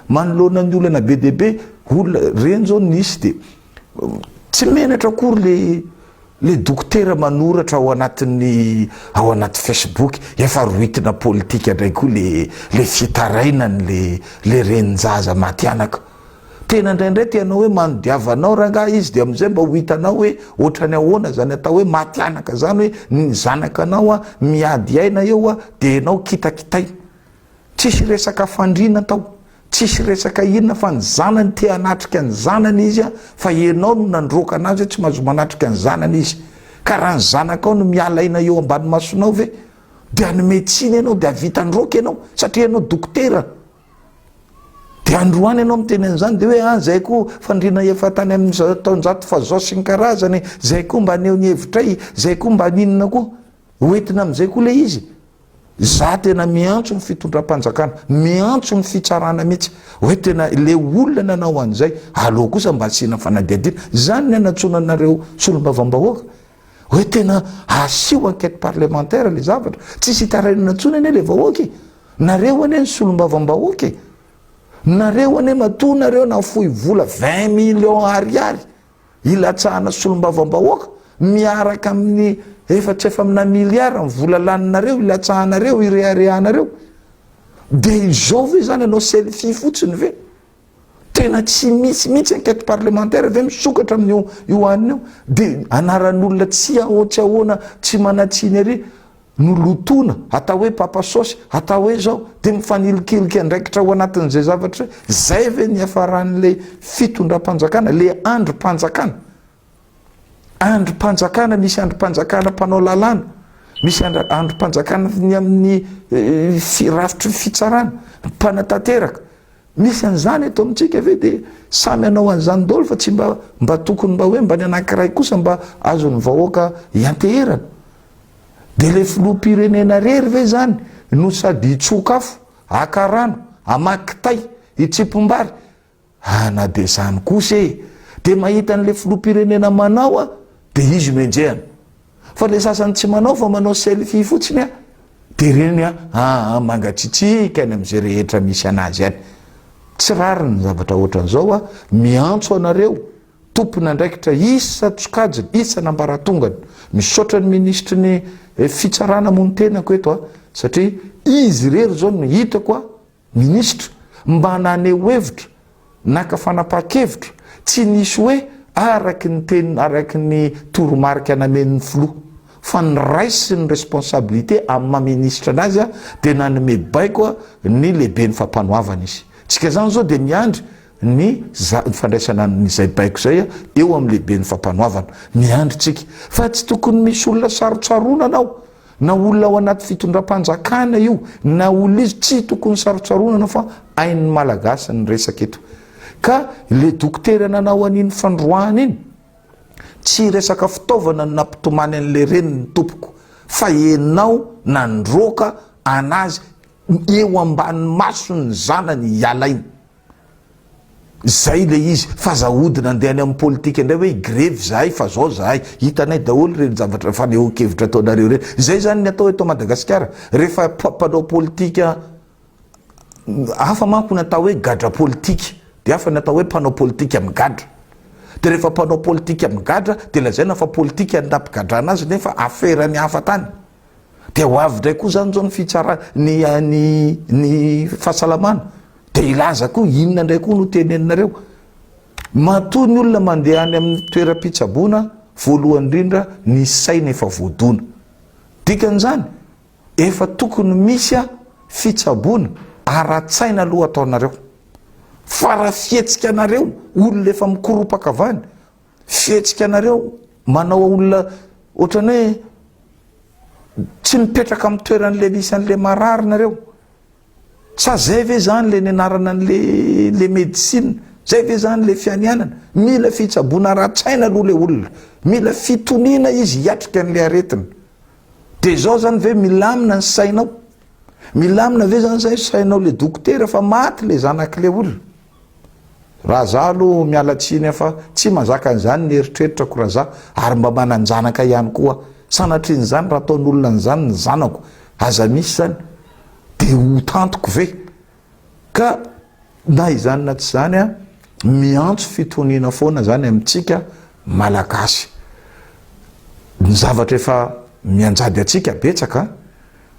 Manoloana ny olana be dia be olona ireny izao nisy dia tsy menatra akory ilay ilay dokotera manoratra ao anatin'ny ao anaty Facebook efa rohitina politika indray koa ilay ilay fitarainany ilay ilay renin-jaza maty anaka. Tena indraindray te hanao hoe manodiava anao rangaha izy dia amin'izay mba ho hitanao hoe ohatrany ahoana izany atao hoe maty anaka izany hoe ny zanaka anao miady aina eo dia ianao kitakitaina. Tsisy resaka fandriana tao, tsisy resaka inona fa ny zanany te hanatrika ny zanany izy a, fa ianao no nandroaka anazy hoe tsy mahazo manatrika ny zanany izy. Ka raha ny zanakao no miala aina eo ambany masonao ve dia hanome tsiny ianao dia hahavita androaka ianao satria ianao dokotera. Dia androany ianao miteny an'izany dia hoe ah izay koa fandriana efa tany amin'ny taonjato fahazao sy ny karazany, izay koa mba haneho ny hevitray, izay koa mba haninona koa. Ho entina amin'izay koa ilay izy. Za tena miantso ny fitondram-panjakana, miantso ny fitsarana mihitsy hoe tena ilay olona nanao an'izay aleo kosa mba asiana fanadihadiana. Izany ny anatsoana anareo solombavambahoaka hoe tena asio enquête parlementaire ilay zavatra. Tsisy hitarainana intsony anie ilay vahoaka e! Nareo anie ny solombavambahoaka e! Nareo anie matoa nareo nahafoy vola vingt millions ariary. hilatsahana solombavambahoaka miaraka amin'ny efatra efa amina miliara ny vola laninareo hilatsahanareo hireharehanareo dia izao ve zany anao selfie fotsiny ve tena tsy misy mihitsy enquête parlementaire ve misokatra amin'io io anina io dia anaran'olona tsy ahotsy ahoana tsy manatsiny ery no lotoina, atao hoe papa saosy, atao hoe izao, dia mifanilikilik'y andraikitra ao anatin'izay zavatra izay, izay ve no hiafaran'ilay fitondram-panjakana, ilay andrim-panjakana? Andrim-panjakana, misy andrim-panjakana mpanao lalàna, misy andrim-panjakana ny amin'ny rafitry ny fitsarana, mpanatanteraka, misy an'izany eto amintsika ve dia samy hanao an'izany daholo fa tsy mba tokony mba hoe mba ny anankiray kosa mba azon'ny vahoaka hianteherana? Dia ilay filoham-pirenena rery ve izany no sady hitsoka afo, haka rano, hamaky kitay, hitsimpim-bary? Ah na dia izany kosa e! Dia mahita an'ilay filoham-pirenena manao aho dia izy no enjehina. Fa ilay sasany tsy manao fa manao selfie fotsiny an! Dia ireny an, ah ah mangatsitsiaka any amin'izay rehetra misy an'azy any. Tsy rariny ny zavatra ohatran'izao an! Miantso anareo. tompon'andraikitra isan-tsokajiny, isan'ambaratongany. Misaotra ny minisitry ny Fitsarana moa ny tenako eto satria izy irery izao no hitako minisitra mba naneho hevitra, naka fanapahan-kevitra, tsy nisy hoe araka ny teny, araka ny toromarika namen'ny filoha fa niraisiny ny responsabilité amin'ny maha minisitra anazy dia nanome baiko ny lehiben'ny fampanoavana izy. Isika izany izao dia miandry. ny za fandraisana ny izay baiko izay eo amin'ny lehiben'ny fampanoavana. Miandry tsika. Fa tsy tokony misy olona sarotsaronana ao. Na olona ao anaty fitondram-panjakana io, na olona izy, tsy tokony sarotsaronana fa ain'ny Malagasy ny resaka eto. Ka le dokotera nanao an'iny fandroahana iny, tsy resaka fitaovana no nampitomany an'le reniny tompoko, fa enao nandroaka anazy eo ambany mason'ny zanany ialainy. Zay ilay izy fa aza ahodina andeha any amin'ny politika indray hoe hi-grevy zahay fa zao zahay. Hitanay daholo ireny zavatra fanehoan-kevitra ataonareo ireny. Zay zany ny atao eto Madagasikara rehefa mpanao politika hafa manko ny atao hoe gadra politika dia hafa ny atao hoe mpanao politika migadra. Dia rehefa mpanao politika migadra dia lazaina fa politika ny nampigadrana azy nefa afera ny hafa tany. dia ho avy indray koa zany zao ny fitsara ny ny ny fahasalamana de hilaza koa inona indray koa no teneninareo matoa ny olona mandeha any amin'ny toeram-pitsaboana voalohany indrindra ny saina efa voadona dikan'izany efa tokony misy a fitsaboana ara-tsaina aloha ataonareo fa raha fihetsika anareo olona efa mikoropaka avany Fihetsika anareo manao olona ohatran'ny hoe tsy mipetraka amin'ny toeran'le misy an'le marary nareo. Sa zay ve zany le nianarana an'le le medicine? Zay ve zany le fianianana? Mila fitsaboana ara-tsaina aloha le olona. Mila fitoniana izy hiatrika an'le aretina. De zao zany ve milamina ny sainao? Milamina ve zany zay sainao le dokotera fa maty le zanak'le olona? Raha za aloha miala tsiny a fa tsy mazaka an'izany ny eritreritrako raha za ary mba manan-janaka ihany koa aho. Sanatrin'izany raha ataon'olona an'izany ny zanako, aza misy izany, dia ho tantiko ve? Ka na izany na tsy izany a, miantso fitoniana foana izany amintsika Malagasy. Ny zavatra efa mianjady antsika betsaka a!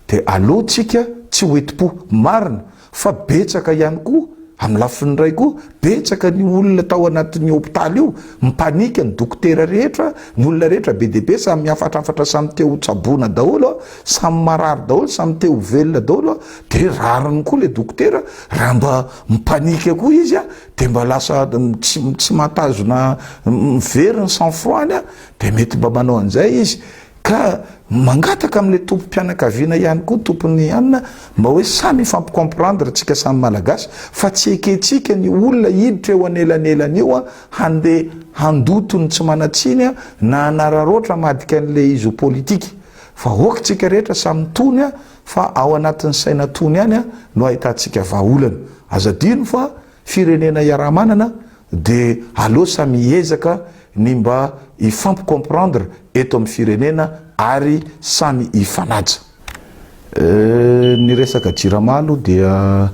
dia aleo tsika tsy ho enti-po marina fa betsaka ihany koa amin'ny lafiny iray koa betsaka ny olona tao anatin'io hopitaly io mipanika ny dokotera rehetra ny olona rehetra be dia be samy mihafatrafatra samy te ho tsaboina daholo samy marary daholo samy te ho velona daholo dia rariny koa le dokotera raha mba mipanika koa izy a dia mba lasa tsy tsy mahatazona mivery ny sang froid-ny a dia mety mba manao an'izay izy Ka mangataka amin'ilay tompom-pianakaviana ihany koa tompon'ny hanina mba hoe samy hifampi-comprendre tsika samy Malagasy fa tsy ekentsika ny olona hiditra eo anelanelany io handeha handoto ny tsy manan-tsiny na hanararaotra amadika an'ilay izy ho politika fa ok tsika rehetra samy tony fa ao anatin'ny saina tony ihany no ahitantsika vahaolana. Aza adino fa firenena iaraha-manana De aleo samy hiezaka ny mba hifampi comprendre eto amin'ny firenena ary samy hifanaja. Ny resaka jirama aloha dia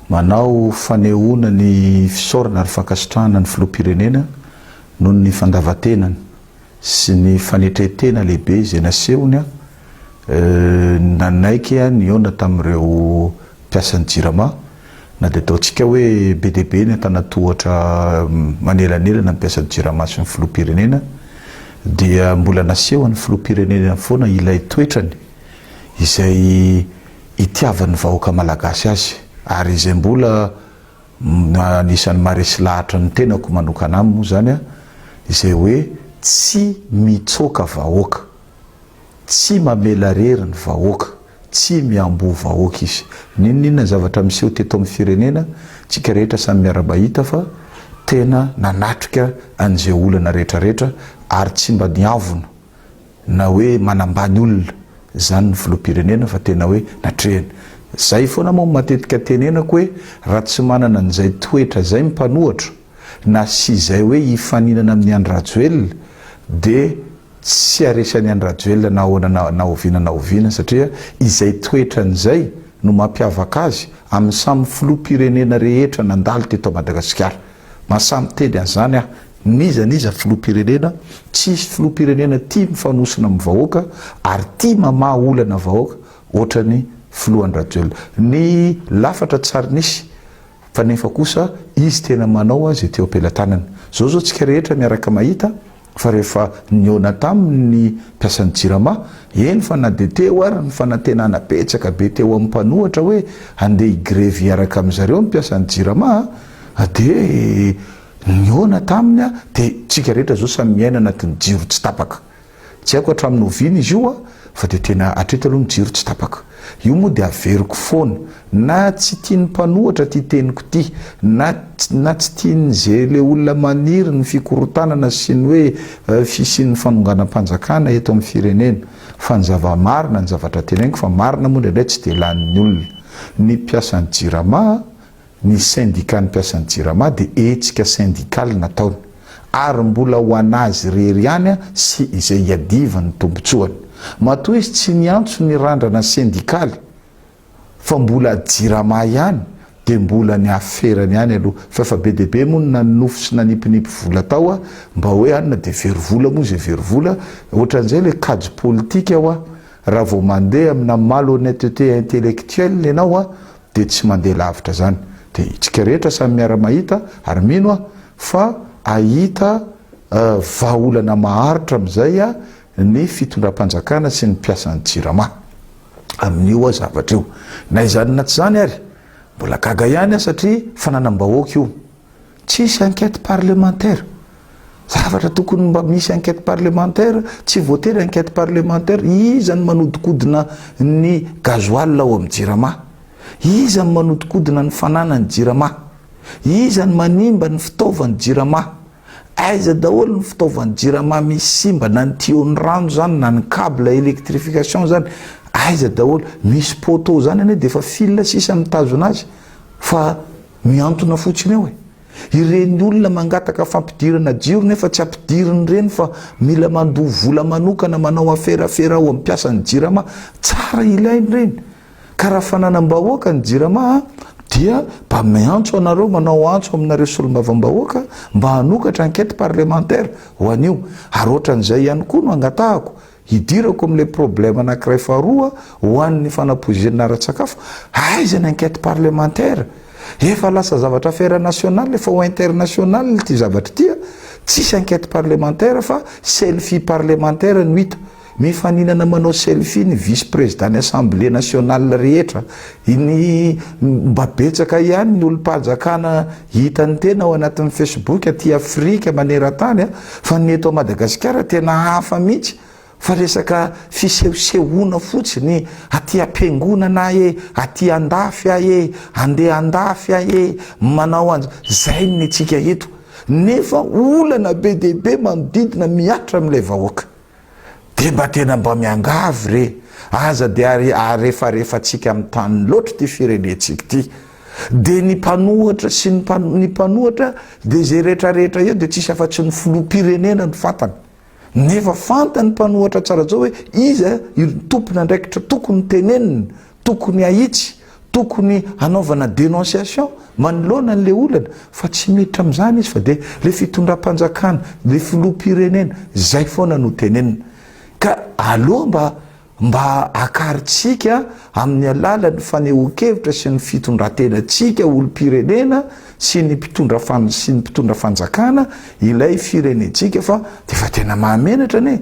manao fanehoana ny fisaorana ary fankasitrahana ny Filoham-pirenena noho ny fandavan-tenany sy ny fanetrentena lehibe izay nasehony, Nanaiky ny hihaona tamin'ireo mpiasan'ny Jirama na dia ataontsika hoe be dia be ny antanan-tohatra manelanelana ny mpiasan'ny Jirama sy ny Filoham-pirenena dia mbola nasehon'ny Filoham-pirenena foana ilay toetrany izay itiavan'ny vahoaka Malagasy azy ary izay mbola anisan'ny maharesy lahatra ny tenako manokana aminy moa izany izay hoe tsy mitsoaka vahoaka. Tsy mamela rery ny vahoaka, tsy miamboho vahoaka izy. N'inon'inona ny zavatra miseho teto amin'ny firenena, tsika rehetra samy miara-mahita fa tena nanatrika an'izay olana rehetrarehetra ary tsy mba niavona na hoe manambany olona izany ny filoham-pirenena fa tena hoe natrehany. Izay foana moa no matetika tenenako hoe raha tsy manana an'izay toetra izay ny mpanohatra na sy izay hoe hifaninana amin'i Andry Rajoelina dia Tsy haharesy an'i Andry Rajoelina na ahoana na na oviana na oviana satria izay toetrany izay no mampiavaka azy amin'ny samy filoham-pirenena rehetra nandalo teto Madagasikara. Mahasahy miteny an'izany aho. N'iza n'iza filoham-pirenena, tsy hisy filoham-pirenena tia mifanosona amin'ny vahoaka ary tia mamaha olana vahoaka ohatran'ny filoha Andry Rajoelina. Ny lafatra tsy ary nisy. Fa nefa kosa izy tena manao izay teo am-pelatanany. Zao zao tsika rehetra miaraka mahita fa rehefa nihaona taminy ny mpiasan'ny jirama, eny fa na dia teo ary ny fanantenana betsaka be teo amin'ny mpanohatra hoe handeha hi-grevy hiaraka amin-dry zareo ny mpiasan'ny jirama dia nihaona taminy dia tsika rehetra zao samy miaina anatin'ny jiro tsy tapaka. Tsy haiko hatramin'ny oviana izy io fa dia tena hatreto aloha ny jiro tsy tapaka. Io moa dia averiko foana na tsy tian'ny mpanohatra ity teniko ity na na tsy tian'izay ilay olona maniry ny fikorontanana sy ny hoe fisian'ny fanonganam-panjakana eto amin'ny firenena. Fa ny zava-marina ny zavatra teneninko fa marina moa indraindray tsy dia lanin'ny olona. Ny mpiasan'ny jirama Ny sendikan'ny mpiasan'ny Jirama dia hetsika sendikaly nataony ary mbola ho an'azy irery ihany sy izay hiadivany ny tombontsoany. Matoa izy tsy niantso ny randrana sendikaly fa mbola Jirama ihany dia mbola ny aferany ihany aloha fa efa be dia be moa ny nanonofy sy nanipinipy vola tao mba hoe any na dia very vola moa izay very vola ohatran'izay ilay kajy politika raha vao mandeha amina malhonnetete intellectuelle ianao dia tsy mandeha lavitra zany dia itsika rehetra samy miara mahita ary mino aho fa ahita vahaolana maharitra amin'izay ny fitondram-panjakana sy ny mpiasan'ny jirama amin'io zavatra io na izany na tsy izany ary mbola gaga ihany aho satria fananam-bahoaka io Tsisy enquête parlementaire, zavatra tokony mba misy enquête parlementaire, tsy voatery enquête parlementaire, iza no manodikodina ny gasoil ao amin'ny jirama? Iza no manodikodina ny fananan'ny jirama? Iza no manimba ny fitaovan'ny jirama? Aiza daholo ny fitaovan'ny jirama misy simba na ny tuyau ny rano zany na ny cable electrification zany aiza daholo? Misy poteau zany anie dia efa fil sisa mitazona azy fa Mihantona fotsiny eo e! Ireny olona mangataka fampidirana jiro nefa tsy ampidiriny ireny fa mila mandoa vola manokana manao aferafera ao amin'ny mpiasan'ny jirama, tsara ilaina ireny. Ka raha fananam-bahoaka ny jirama dia mba miantso anareo manao antso aminareo solombavambahoaka mba hanokatra enquête parlementaire ho an'io. Ary ohatran'izay ihany koa no angatahako, Hidirako amin'ilay problème anankiray faharoa ho an'ny fanapoizinana ara-tsakafo, aiza ny enquête parlementaire? Efa lasa zavatra affaire nationale efa ho internationale ity zavatra ity a! Tsisy enquête parlementaire fa selfie parlementaire no hita. Mifaninana manao selfie ny vice président ny assemblée nationale rehetra, ny mba betsaka ihany ny olom-pahajakana Hitan'ny tena ao anatin'ny Facebook aty Afrika manerantany fa ny eto Madagasikara tena hafa mihitsy fa resaka fisehosehoana fotsiny aty am-piangonana ae, aty andafy ae, andeha andafy ae, manao anz. Zay ny antsika eto nefa olana be dia be manodidina mihatra amin'ilay vahoaka. de mba tena mba miangavy re aza de ary arefarefantsika amin'ny tany loatra ity firenentsika ity de ny mpanohatra sy ny ny mpanohatra de zay rehetrarehetra eo de tsisy afa-tsy ny filoham-pirenena ny fantany nefa fantany mpanohatra tsara zao hoe iza io tompon'andraikitra tokony tenenina tokony ahitsy Tokony hanaovana dénonciation manoloana an'ilay olana fa tsy miditra amin'izany izy fa dia ilay fitondram-panjakana, ilay filoham-pirenena, izay foana no tenenina. Ka aleo mba mba akarintsika amin'ny alalan'ny fanehoan-kevitra sy ny fitondran-tenantsika olom-pirenena sy ny mpitondra sy ny mpitondra fanjakana ilay firenentsika fa dia efa tena mahamenatra anie.